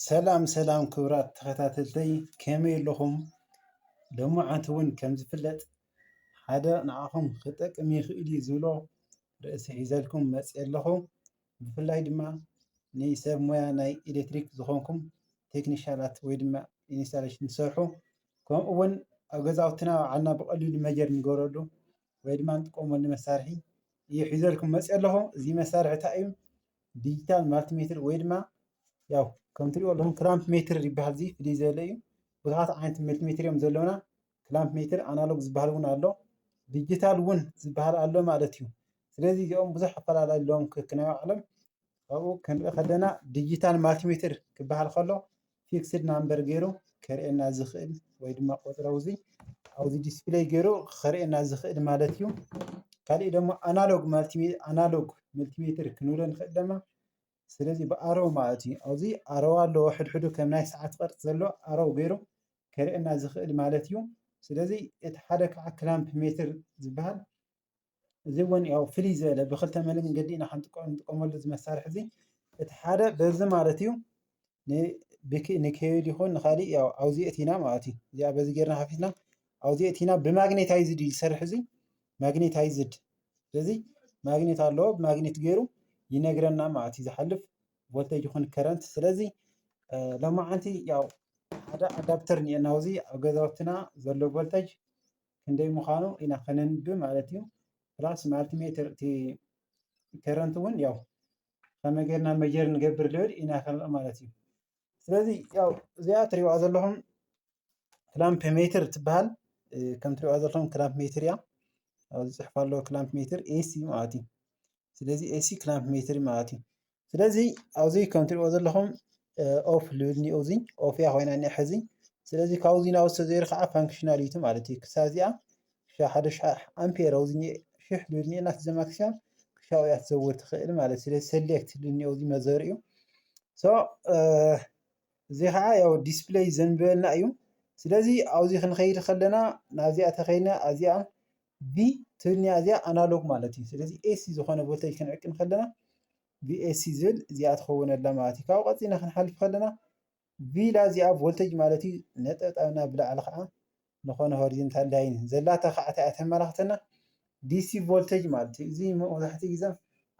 ሰላም ሰላም ክብራት ተኸታተልተይ ከመይ ኣለኹም? ሎማዓንቲ እውን ከም ዝፍለጥ ሓደ ንዓኹም ክጠቅም ይኽእል እዩ ዝብሎ ርእሲ ሒዘልኩም መፂአ ኣለኹ። ብፍላይ ድማ ንሰብ ሞያ ናይ ኤሌክትሪክ ዝኾንኩም ቴክኒሻላት ወይ ድማ ኢንስታሌሽን ትሰርሑ ከምኡ እውን ኣብ ገዛውትና ባዕልና ብቐሊሉ መጀር ንገብረሉ ወይ ድማ ንጥቀመሉ መሳርሒ እዩ ሒዘልኩም መፂኦ ኣለኹ። እዚ መሳርሒ እንታይ እዩ? ዲጂታል ማልቲ ሜትር ወይ ድማ ያው ከም ትሪእዎ ኣለኹም ክላምፕ ሜትር ይበሃል እዚ ፍልይ ዝበለ እዩ። ብዙሓት ዓይነት መልቲ ሜትር እዮም ዘለውና። ክላምፕ ሜትር ኣናሎግ ዝበሃል እውን ኣሎ። ዲጂታል እውን ዝበሃል ኣሎ ማለት እዩ። ስለዚ እዚኦም ብዙሕ ኣፈላላይ ኣለዎም ከክናይ ባዕሎም ካብኡ ክንርኢ ከለና ዲጂታል ማልቲ ሜትር ክበሃል ከሎ ፊክስድ ናምበር ገይሩ ከርእየና ዝኽእል ወይ ድማ ቁፅሪ ኣብዚ ኣብዚ ዲስፕሌይ ገይሩ ከርእየና ዝኽእል ማለት እዩ ካልእ ደግሞ ኣናሎግ ኣናሎግ መልቲሜትር ክንብሎ ንኽእል ደማ ስለዚ ብኣሮ ማለት እዩ ኣብዚ ኣረዋ ኣለዎ ሕድሕዱ ከም ናይ ሰዓት ቅርፂ ዘሎ ኣረው ገይሩ ከርእየና ዝኽእል ማለት እዩ ስለዚ እቲ ሓደ ከዓ ክላምፕ ሜትር ዝበሃል እዚ እውን ያው ፍልይ ዝበለ ብክልተ መንገዲ ኢና ክንጥቀመሉ እዚ መሳርሒ እዚ እቲ ሓደ በዚ ማለት እዩ ንኬብል ይኹን ንካሊእ ያው ኣብዚ ኣእቲና ማለት እዩ እዚኣ በዚ ጌርና ከፊትና ኣብዚ ኣእቲና ብማግኔታይዝድ እዩ ዝሰርሕ እዚ ማግኔታይዝድ ስለዚ ማግኔት ኣለዎ ብማግኔት ገይሩ ይነግረና ማለት እዩ ዝሓልፍ ቮልቴጅ ይኹን ከረንት ስለዚ ሎማዓንቲ ያው ሓደ ኣዳፕተር እኒኤና ኣብዚ ኣብ ገዛውትና ዘሎ ቮልቴጅ ክንደይ ምዃኑ ኢና ከነንብ ማለት እዩ ፕላስ ማልቲሜትር እቲ ከረንት እውን ያው ከመይ ጌርና መጀር ንገብር ልብል ኢና ክንርኢ ማለት እዩ ስለዚ ያው እዚኣ ትሪእዋ ዘለኹም ክላምፕ ሜትር ትበሃል ከም ትሪእዋ ዘለኹም ክላምፕ ሜትር እያ ኣብዚ ፅሑፍ ኣለዎ ክላምፕ ሜትር ኤሲ ማለት እዩ ስለዚ ኤሲ ክላምፕ ሜትር ማለት እዩ ስለዚ ኣብዚ ከም ትሪእዎ ዘለኹም ኦፍ ልብል እኒኦ እዚ ኦፍ እያ ኮይና እኒኣ ሕዚ ስለዚ ካብዚ ናብ ዝተዘይሩ ከዓ ፋንክሽናል ዩቲ ማለት እዩ ክሳብ እዚኣ ክሻ ሓደ ሽሕ ኣምፔር ኣብዚ እኒኦ ሽሕ ልብል እኒኦ ናት ዘማክስያ ክሻው እያ ትዘውር ትኽእል ማለት ስለዚ ሰሌክት ልብል እኒኦ እዚ መዘር እዩ ሶ እዚ ከዓ ያው ዲስፕሌይ ዘንብበልና እዩ ስለዚ ኣብዚ ክንኸይድ ከለና ናብዚኣ ተኸይድና ኣዚኣ ቪ ትብልኒያ እዚኣ ኣናሎግ ማለት እዩ ስለዚ ኤሲ ዝኾነ ቮልተጅ ክንዕቂ ከለና ቪኤሲ ዝብል እዚኣ ትኸውነላ ማለት እዩ ካብኡ ቀፂልና ክንሓልፍ ከለና ቪላ እዚኣ ቮልተጅ ማለት እዩ ነጠብጣብና ብላዕሊ ከዓ ንኾነ ሆሪዘንታል ላይን ዘላታ ከዓ እንታይ እያ ተመላኽተና ዲሲ ቮልተጅ ማለት እዩ እዚ መብዛሕትኡ ግዜ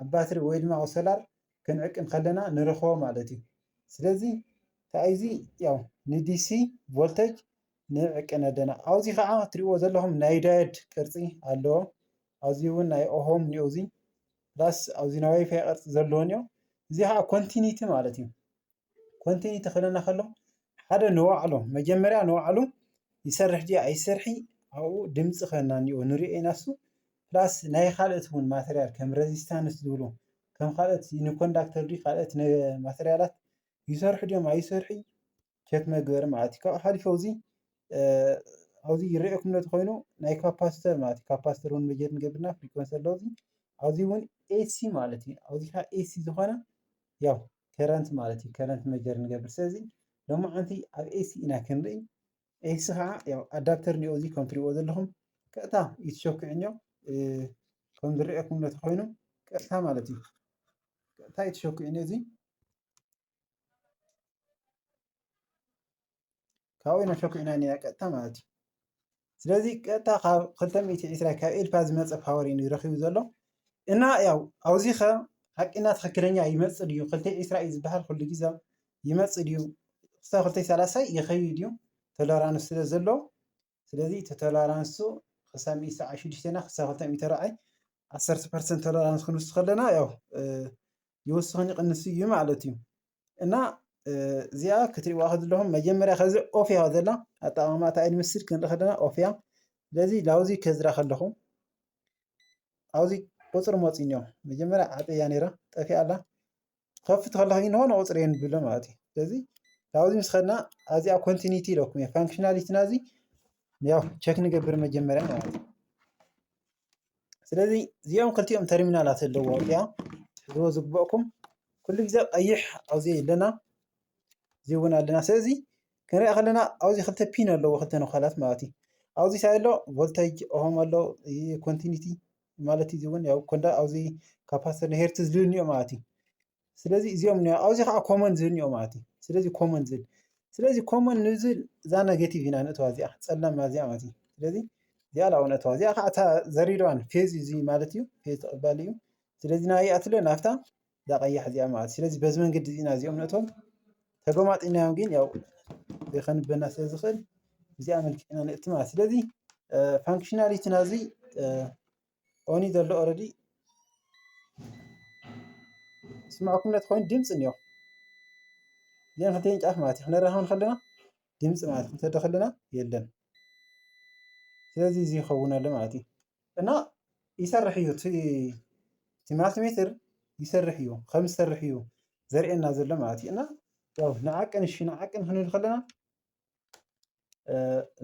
ኣብ ባትሪ ወይ ድማ ኣብ ሶላር ክንዕቂ ከለና ንረኽቦ ማለት እዩ ስለዚ እንታይ እዚ ያው ንዲሲ ቮልተጅ ንዕቅን ኣለና። ኣብዚ ከኣ እትሪእዎ ዘለኹም ናይ ዳየድ ቅርጺ ኣለዎ። ኣብዚ እውን ናይ ኦሆም ኒኦ እዚ ፕላስ ኣብዚ ናይ ዋይፋይ ቅርጺ ዘለዎ ኒኦ እዚ ከኣ ኮንቲኒቲ ማለት እዩ። ኮንቲኒቲ ክብለና ከሎ ሓደ ንባዕሉ መጀመርያ ንባዕሉ ይሰርሕ ድዩ ኣይሰርሒ ኣብኡ ድምፂ ክበና ኒኦ ንሪኦ ኢና እሱ ፕላስ ናይ ካልኦት እውን ማተርያል ከም ረዚስታንስ ዝብሉ ከም ካልኦት ንኮንዳክተር ድዩ ካልኦት ማተርያላት ይሰርሑ ድዮም ኣይሰርሑ ቸክ መግበሪ ማለት እዩ ካብኡ ሓሊፉ ኣብዚ ኣብዚ ይረኣየኩም ነቲ ኮይኑ ናይ ካፓስተር ማለት እዩ ካፓስተር እውን መጀር ንገብርና ፍሪኮንሲ ኣሎ እዚ ኣብዚ እውን ኤሲ ማለት እዩ ኣብዚ ከዓ ኤሲ ዝኾነ ያው ከረንት ማለት እዩ ከረንት መጀር ንገብር ስለዚ ሎሚ ዓንቲ ኣብ ኤሲ ኢና ክንርኢ ኤሲ ከዓ ያው ኣዳፕተር እኒኦ እዚ ከም ትሪእዎ ዘለኹም ቀጥታ እዩ ትሸኩዕኞ ከም ዝረኣየኩም ነቲ ኮይኑ ቀጥታ ማለት እዩ ቀጥታ እዩ ትሸኩዕኞ እዚ ካብኡ ኢና ሸኩዕና ኒና ቀጥታ ማለት እዩ ስለዚ ቀጥታ ካብ 220 ካብ ኤልፓ ዝመፀ ፓወር እዩ ረኪቡ ዘሎ እና ያው ኣብዚ ከ ሓቂና ትክክለኛ ይመፅእ ድዩ ክልተ ዒስራ እዩ ዝበሃል ኩሉ ግዜ ይመፅእ ድዩ ክሳብ ክልተ ሰላሳ ይከይድ እዩ ቶለራንስ ስለ ዘሎ ስለዚ እቲ ቶለራንሱ ክሳብ ሰዓት ሽዱሽተ እና ክሳብ ክልተ ሚእቲ ራዕይ ዓሰርተ ፐርሰንት ቶለራንስ ክንውስድ ከለና ያው ይወስኽን ይቕንስ እዩ ማለት እዩ እና እዚኣ ክትሪእዋ ከዘለኹም መጀመርያ ከዚ ኦፍ እያ ዘላ ኣጠቃቅማ እታ ኤድሚስድ ክንርኢ ከለና ኦፍ እያ ስለዚ ላውዚ ከዝራ ከለኹ ኣብዚ ቁፅሪ መፂ እኒኦ መጀመርያ ዓፀያ ነይራ ጠፊኣ ኣላ ክኸፍት ከለኹ እንሆ ንቑፅሪ እየ ንብሎ ማለት እዩ ስለዚ ካብዚ ምስ ከድና ኣብዚኣ ኮንቲኒቲ ኢለኩም እየ ፋንክሽናሊቲና እዚ ያው ቸክ ንገብር መጀመርያ ማለት እዩ ስለዚ እዚኦም ክልቲኦም ተርሚናላት ኣለዎ እዚኣ ሕዝቦ ዝግበእኩም ኩሉ ግዜ ቀይሕ ኣብዚ ኣለና እዚ እውን ኣለና ስለዚ ክንሪኣ ከለና ኣብዚ ክልተ ፒን ኣለዎ ክልተ ነዃላት ማለት እዩ ኣብዚ ሳይ ኣሎ ቮልቴጅ ኦም ኣሎ ኮንቲኒቲ ማለት እዚ እውን ያው ኮንዳ ኣብዚ ካፓስተር ሄርት ዝልንዮ ማለት እዩ ስለዚ እዚኦም ኒ ኣብዚ ከዓ ኮመን ዝልንዮ ማለት እዩ ስለዚ ኮመን ዝል ስለዚ ኮመን ንዝል እዛ ኔጌቲቭ ኢና ንእተዋ እዚኣ ፀላም እዚኣ ማለት እዩ ስለዚ እዚኣ ላው ንእተዋ እዚኣ ከዓ እታ ዘሪድዋን ፌዝ እዩ እዚ ማለት እዩ ፌዝ ተቐባሊ እዩ ስለዚ ናይኣ ትለ ናብታ እዛ ቀያሕ እዚኣ ማለት ስለዚ በዚ መንገዲ እዚ ኢና እዚኦም ነእቶም ተጎማጢናዮም ግን ያው ከንበና ስለ ዝኽእል እዚኣ መልክዕ ኢና ነእቲ ማለት ስለዚ ፋንክሽናሊቲ ናዚ ኦኒ ዘሎ ኦረዲ ስምዕኩም ነት ኮይኑ ድምፂ እኒኦ እዚኣን ክልተን ጫፍ ማለት እዩ ክነራኸብ ንከለና ድምፂ ማለት ክንሰዶ ከለና የለን ስለዚ እዚ ይኸውን ኣሎ ማለት እዩ እና ይሰርሕ እዩ እቲ እቲ ማልቲሜትር ይሰርሕ እዩ ከም ዝሰርሕ እዩ ዘርእየና ዘሎ ማለት እዩ እና ያው ንዓቅን እሺ ንዓቅን ክንብል ከለና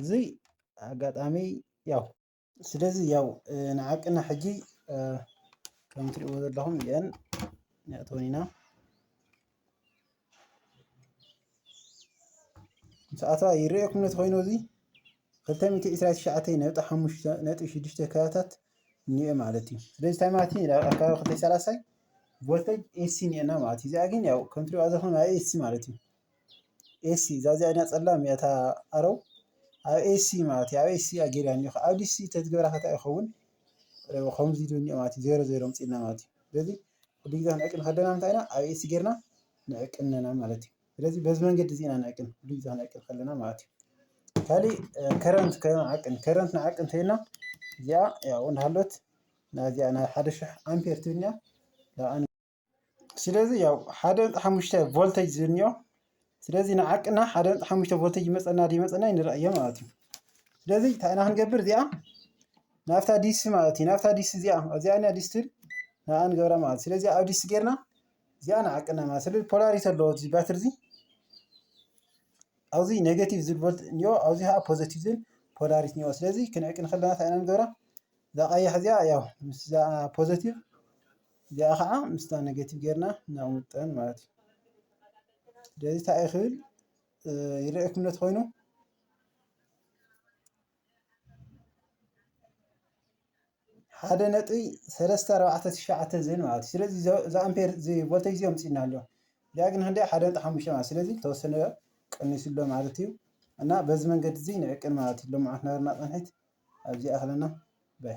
እዚ ኣጋጣሚ ያው ስለዚ ያው ንዓቅና ሕጂ ከም ትሪእዎ ዘለኹም እየን ነእተወን ኢና ሰዓታ ይርኤኩም ነቲ ኮይኑ እዚ 229.5 ካራታት እኒኤ ማለት እዩ ስለዚ እንታይ ማለት እዩ ኣብ ኣካባቢ ክልተይ ሰላሳይ ቮልተጅ ኤሲ እኒኤና ማለት እዩ እዚኣ ግን ያው ከም ትሪእዋ ዘለኹም ኣብ ኤሲ ማለት እዩ ኤሲ እዛ እዚኣ ና ፀላም እያ እታ ኣረው ኣብ ኤሲ ማለት እዩ ኣብ ኤሲ እያ ገይራ እኒኦ ኣብ ዲሲ ተዝገብራ ከታ ይኸውን ከምዚ ኢሉ እኒኦ ማለት እዩ ዜሮ ዜሮ ኣምፂእልና ማለት እዩ ስለዚ ኩሉግዜ ክንዕቅን ከለና እንታይ ኢና ኣብ ኤሲ ጌርና ንዕቅን ኣለና ማለት እዩ። ስለዚ በዚ መንገዲ እዚ ኢና ንዕቅን ኩሉግዜ ክንዕቅን ከለና ማለት እዩ። ካሊእ ከረንት ክንዓቅን ከረንት ንዓቅን እንተይልና እዚኣ ያው እንዳሃለት ናዚኣ ናብ ሓደ ሽሕ ኣምፔር ትብልኛ ስለዚ ያው ሓደ ሓሙሽተ ቮልተጅ ዝብልኒዮ ስለዚ ንዓቅና ሓደ ነጥቢ ሓሙሽተ ቮልቴጅ ይመፀና ዶ ይመፀና ንረኣዮ ማለት እዩ ስለዚ እንታይ ኢና ክንገብር እዚኣ ናብታ ዲሲ ማለት እዩ ናብታ ዲሲ እዚኣ እዚኣ ኢና ዲሲ ትብል ንኣ ንገብራ ማለት እዩ ስለዚ ኣብ ዲሲ ጌርና እዚኣ ንዓቅና ማለት ስለዚ ፖላሪቲ ኣለዎ እዚ ባትሪ እዚ ኣብዚ ኔጌቲቭ ዝብል ቮልት እኒኦ ኣብዚ ከዓ ፖዘቲቭ ዝብል ፖላሪቲ እኒኦ ስለዚ ክንዕቅን ከለና እንታይ ኢና ንገብራ እዛ ቀያሕ እዚኣ ያው ምስዛ ፖዘቲቭ እዚኣ ከዓ ምስታ ኔጌቲቭ ጌርና ነቕምጠን ማለት እዩ። ስለዚ እንታይ እዩ ክብል ይረአየኩም ነቲ ኮይኑ ሓደ ነጥቢ ሰለስተ ኣርባዕተ ትሽዓተ ዝብል ማለት እዩ። ስለዚ እዚ ኣምፔር እዚ ቮልቴጅ እዚ ኣምፅና ኣሎ እዚኣ ግን ክንደይ ሓደ ነጥቢ ሓሙሽተ ማለት ስለዚ ተወሰነ ቀኒሱ ኣሎ ማለት እዩ እና በዚ መንገዲ እዚ ንዕቅን ማለት እዩ። ሎምዓት ናርና ቅንሒት ኣብዚ ይኣኽለና ባይ።